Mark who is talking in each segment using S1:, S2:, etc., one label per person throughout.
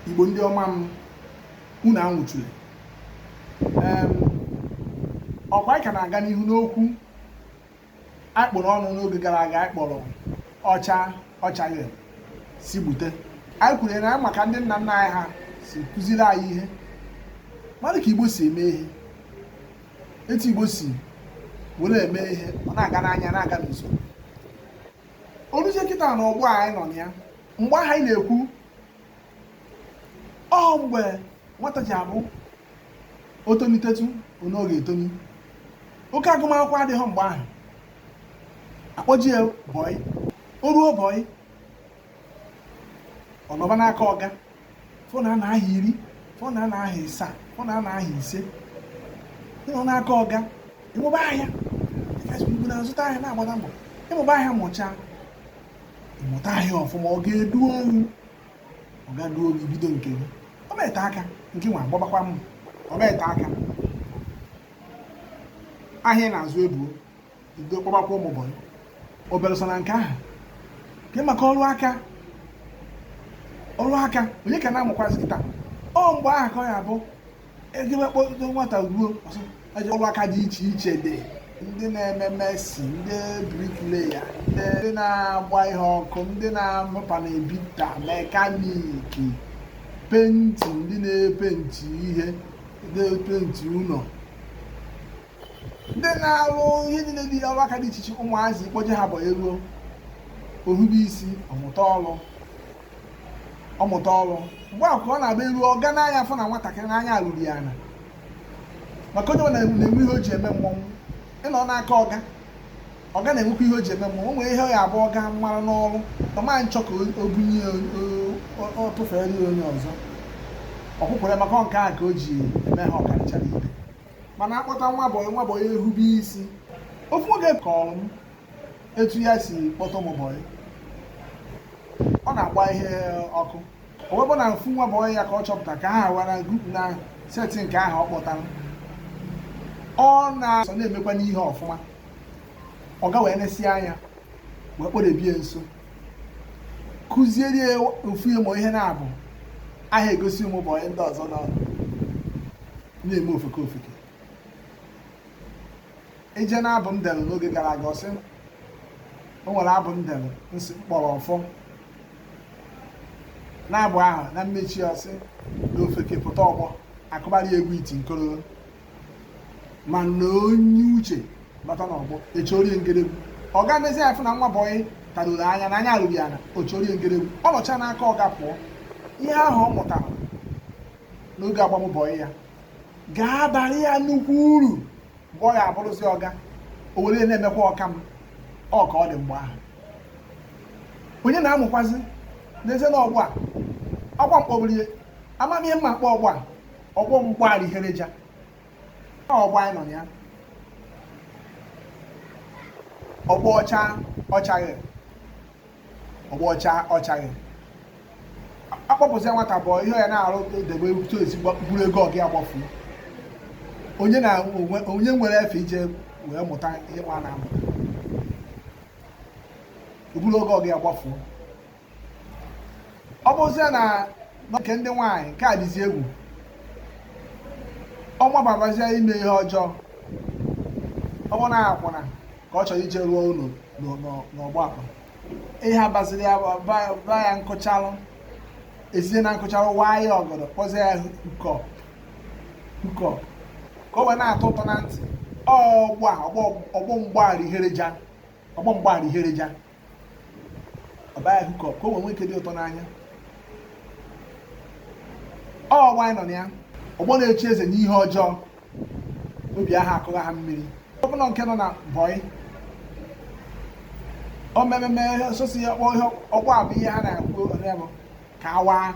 S1: igbo ndị ọma m unu anwụchule ọkwa anyị ka na-aga n'ihu n'okwu anyị kpụrụ ọnụ n'oge gara aga anyị kpọrọ ọ chaa ọ chaghị sị gbute anyị kwuru na maka ndị nna nna anyị ha si kụziri anyị ihe mmadụ ka igbo si eme ihe etu igbo si were eme ihe ọ na-aga n'anya na-aga n'usoro o ruzie kịta na ọgbọ anyị nọ na ya mgbe ahụ anyị na-ekwu ọ mgbe nwata ji abụ o tolitetu onye ọ ga-etoni oke agụmakwụkwọ adịghị mgbe ahụ a kpọje ya bọị o ruo bọị ọ nọba n'aka ọga ụfọ na-anọ ahọ iri ụfọ na-anọ ahọ ịsaa ụfọ na-anọ ahọ ise ị nọba n'aka ọga ị mụba ahịa na-azụta ahịa na-agbata mbọ ị mụba ahịa mụchaa mụta ahịa ọfụma ọga eduo gị ọga eduo gị i bido nke gị ọ na-ete aka nke nwa agbabakwa mma ọ na-ete aka ahịa ị na-azụ ebuo i bido kpọbakwa ụmụ bọyị o belụsọ na nke ahụ nke maka ọrụ aka ọrụ aka onye ka na-amụkwazị kịta ọ mgbe ahụ ka ọ ya-abụ e jebe kpọdo nwata ruo ọsọ eje ọrụ aka dị iche iche dị ndị na-eme mason ndị bricklayer ndị na-agba ihe ọkụ ndị na-amụ panel beater mekaniki penti ndị na-epenti ihe na-epenti ụlọ ndị na-arụ ihe niile dị ọrụ aka dị iche iche ụmụazị a kpọje ha bọyị e ruo o hube isi ọ mụta ọrụ ọ mụta ọrụ mgbe ahụ ka ọ na-abụ e ruo ọga nee anya afụ na nwatakịrị n'anya eruru ya ana maka onye na-enwe ihe o ji eme mmọnwụ ị nọ n'aka ọga ọga na-enwekwa ihe o ji eme mmọnwụ o nwere ihe ọ ya-abụ ọga mara n'ọrụ ọ ma nchọ ka o bunye ọ tụfere ya onye ọzọ ọkwụkwere maka nke a ka o ji eme ha ọkarịchara ibe mana a kpọta nwa bọyị nwa bọyị ehube isi ofu ọga kọrọ m etu ya si kpọta ụmụ bọyị ọ na-agba ihe ọkụ o wee bụ na ofu nwa bọyị ya ka ọ chọpụta ka ha wara group na set nke ahụ ọ kpọtara ọ na-asọ na-emekwa n'ihe ọfụma ọga wee nesie anya wee kpọdebe ya nso kụziere ya ụfọ ụmụ ihe na-abụ a ha egosi ụmụ bọyị ndị ọzọ nọ na-eme ofeke ofeke ije na abụ m dere n'oge gara aga ọ sị o nwere abụ m dere m sị m kpọrọ ọfọ n'abụ ahụ na mmechi ọ sị na ofeke pụta ọgbọ a kụbara ya egwu iti nkoro mana onye uche bata n'ọgbọ echorie ngeregwu ọ ga-emezi afụ na nwa bọyị taruru anya na anya erughị ana ochorie ngeregwu ọ nọcha n'aka ọga pụọ ihe ahụ ọ mụtara n'oge agbam bọyị ya ga-abara ya nnukwu uru mgbe ọ ga-abụrụzi ọga o were na-emekwa ọka m ọ ka ọ dị mgbe ahụ onye na-amụkwazi n'ezie na ọgbọ a ọkwa mkpọbiri amamihe mma a kpọọ ọgbọ a ọgbọ mgbaghara ihereja ọgbọ anyị nọ na ya ọgbọ ọcha ọchaghị ọgbọ ọcha ọchaghị a kpọpụzie nwata bụ ihe ya na-arụ debe to ezigbo buru ego ọga ya gbafu onye na onye nwere efe ije wee mụta ihe nwa na-amụ o buru ego ọga ya gbafu ọ bụzie na nke ndị nwaanyị nke a dịzi egwu ọ bababazie ime ihe ọjọọ ọ bụ na akwụna ka ọ chọrọ ije rụọ ụlọ n'ọ- n'ọ- n'ọgbọ akpa ihe a baziri ya bụ- ba- ba ya nkụchalụ ezie na nkụchalụ waa ya ọgọdọ kpọzie ya hookup ka o wee na-atọ ụtọ na ntị ọgbọ a ọgbọ ọgbọ mgbaghara ihereja ọgbọ mgbaghara ihereja ọ baa ya hookup ka o wee nwee ike dị ụtọ n'anya ọgbọ anyị nọ na ya ọgbọ na-echi eze n'ihe ọjọọ obi ahụ akụghị ha mmiri ọ bụ na nke nọ na bọyị o mememe sosi ya kpọọ ihe ọgbọ a bụ ihe ha na-ekwu onye bụ ka a waa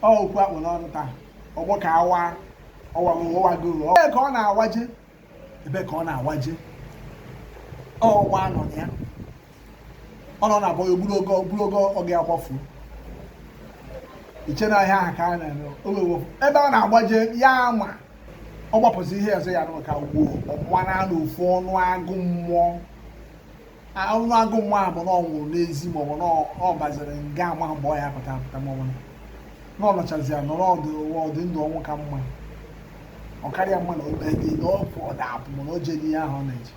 S1: ọ okwu a kpụ n'ọnụ taa ọgbọ ka a waa ọ wago ọ wago ọ ka ọ na-awaje ebe ka ọ na-awaje ọgbọ a nọ na ya ọ nọ na bọyị o buru ego ọga ya gbafuo i che na ihe ahụ ka a na-eme owewo ebe ọ na-agbaje ya ama ọ gbapụzi ihe ọzọ ya nụ ka gwuo ọmụma na anụ ofu ọnụ agụ mmụọ ahụhụ agụ nwa ahụ bụ na ọ nwụrụ n'ezi maọbụ na ọ baziri nga ama mgbe ọ ya-apụta apụta maọbụ na ọ nọchazi ya nọrọ ọdị ndụ ọnwụ ka mma ọ karịa mma na obe gị na ọ pụ ọda apụ mana o jee n'ihe ahụ ọ na-eje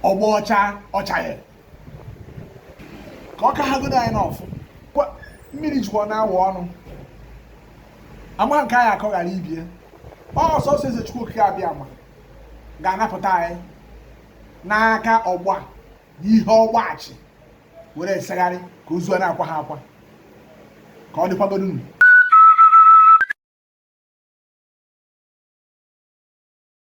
S1: ọgbọ ọcha ọchaghị ka ọ ka ha godo anyị n'ọfụ mmiri jikwa na-awụ ọnụ ama nke anyị akọ ghara ibe ya ọ sọsọ eze chukwu okike abịama ga-anapụta anyị n'aka ọgbọ a n'ihe ọgbọ a chị were esegharị ka ozu a na-akwa ha akwa ka ọ dịkwagodunu